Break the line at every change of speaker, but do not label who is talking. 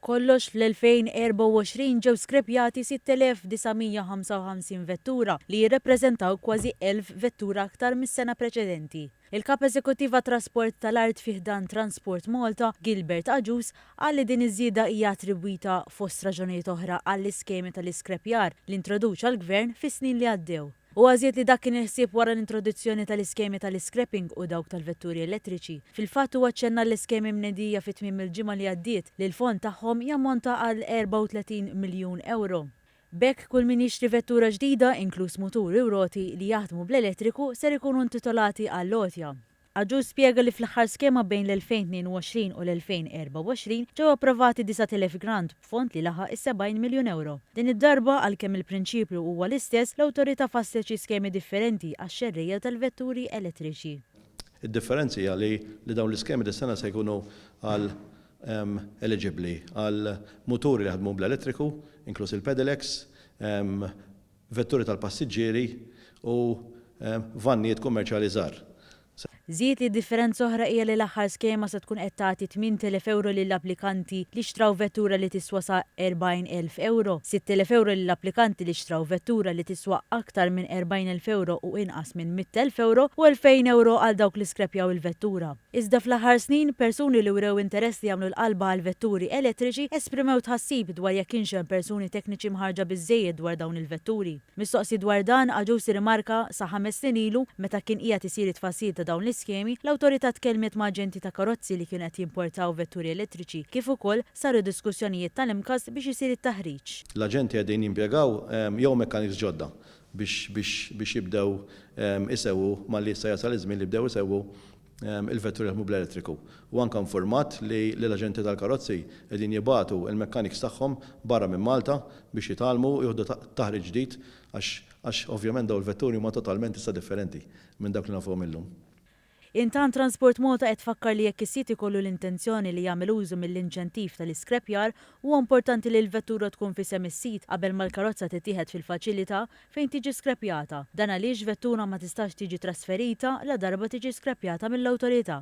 B'kollox, fl-2024 ġew skrepjati 6,955 vettura li jirrappreżentaw kważi 1,000 vettura aktar mis-sena preċedenti. Il-Kap Eżekuttiv għat-Trasport tal-Art fi ħdan Transport Malta, Gilbert Agius, qal li din iż-żieda hija attribwita, fost raġunijiet oħra, għall-iskemi tal-iskrepjar li introduċa l-Gvern fis-snin li għaddew. Huwa żied li dak kien il-ħsieb wara l-introduzzjoni tal-iskemi tal-iscrapping u dawk tal-vetturi elettriċi. Fil-fatt huwa ċċenna l-iskemi mnedija fi tmiem il-ġimgħa li għaddiet li l-fond tagħhom jammonta għal 34 miljun ewro. B'hekk kull min jixtri vettura ġdida, inkluż mutur u roti, li jaħdmu bl-elettriku ser ikunu intitolati għall-għotja. Aġur spjega li fl-aħħar skema bejn l-2022 u l-2024 ġew approvati 9,000 grant b'fond li laħaq is-70 miljun ewro. Din id-darba, għalkemm il-prinċipju huwa l-istess, l-Awtorità fasslet xi skemi differenti għax-xerrejja tal-vetturi elettriċi. Id-differenzi
hija li li dawn l-iskemi dis-sena se jkunu għal eliġibbli għal muturi li jaħdmu bl-elettriku, inkluż il-pedelecs, vetturi tal-passiġġieri u vannijiet kummerċjali żgħar. Żied
li differenza oħra hija li l-aħħar skema se tkun qed tagħti 8,000 ewro lil applikanti li xtraw vettura li tiswa sa 40,000 ewro, 6,000 ewro lil applikanti li xtraw vettura li tiswa aktar minn 40,000 ewro u inqas minn 100,000 ewro u 2,000 ewro għal dawk li skrepjaw il-vettura. Iżda fl-aħħar snin, persuni li wrew interess li jagħmlu l-qalba għall-vetturi elettriċi esprimew tħassib dwar jekk kienx hemm persuni tekniċi mħarrġa biżżejjed dwar dawn il-vetturi. Mistoqsi dwar dan, Agius irrimarka, Sa ħames snin ilu, meta kien qiegħed isir it-tfassil ta' dawn l-iskemi, l-Awtorità tkellmet ma' aġenti ta' karozzi li kienu qed jimportaw vetturi elettriċi kif ukoll saru diskussjonijiet tal-MCAS biex isir it-taħriġ. L-aġenti qegħdin
jimpjegaw jew mekkaniks ġodda biex biex biex jibdew isewwu malli issa jasal iż-żmien li jibdew isewwu il-vetturi li jaħdmu bl-elettriku. Huwa anke infurmat li li l-aġenti tal-karozzi qegħdin jibgħatu l-mechanics tagħhom barra minn Malta biex jitgħallmu u jieħdu taħriġ ġdid għax għax ovvjament dawn il-vetturi huma totalment issa differenti minn dawk li nafuhom illum. Intant
Transport Malta qed tfakkar li jekk is-sit ikollu l-intenzjoni li jagħmel użu mill-inċentiv tal-iskrepjar, huwa importanti li l-vettura tkun f'isem is-sit qabel ma l-karozza tittieħed fil-faċilità fejn tiġi skrepjata. Dan għaliex vettura ma tistax tiġi trasferita ladarba tiġi skrepjata mill-Awtorità.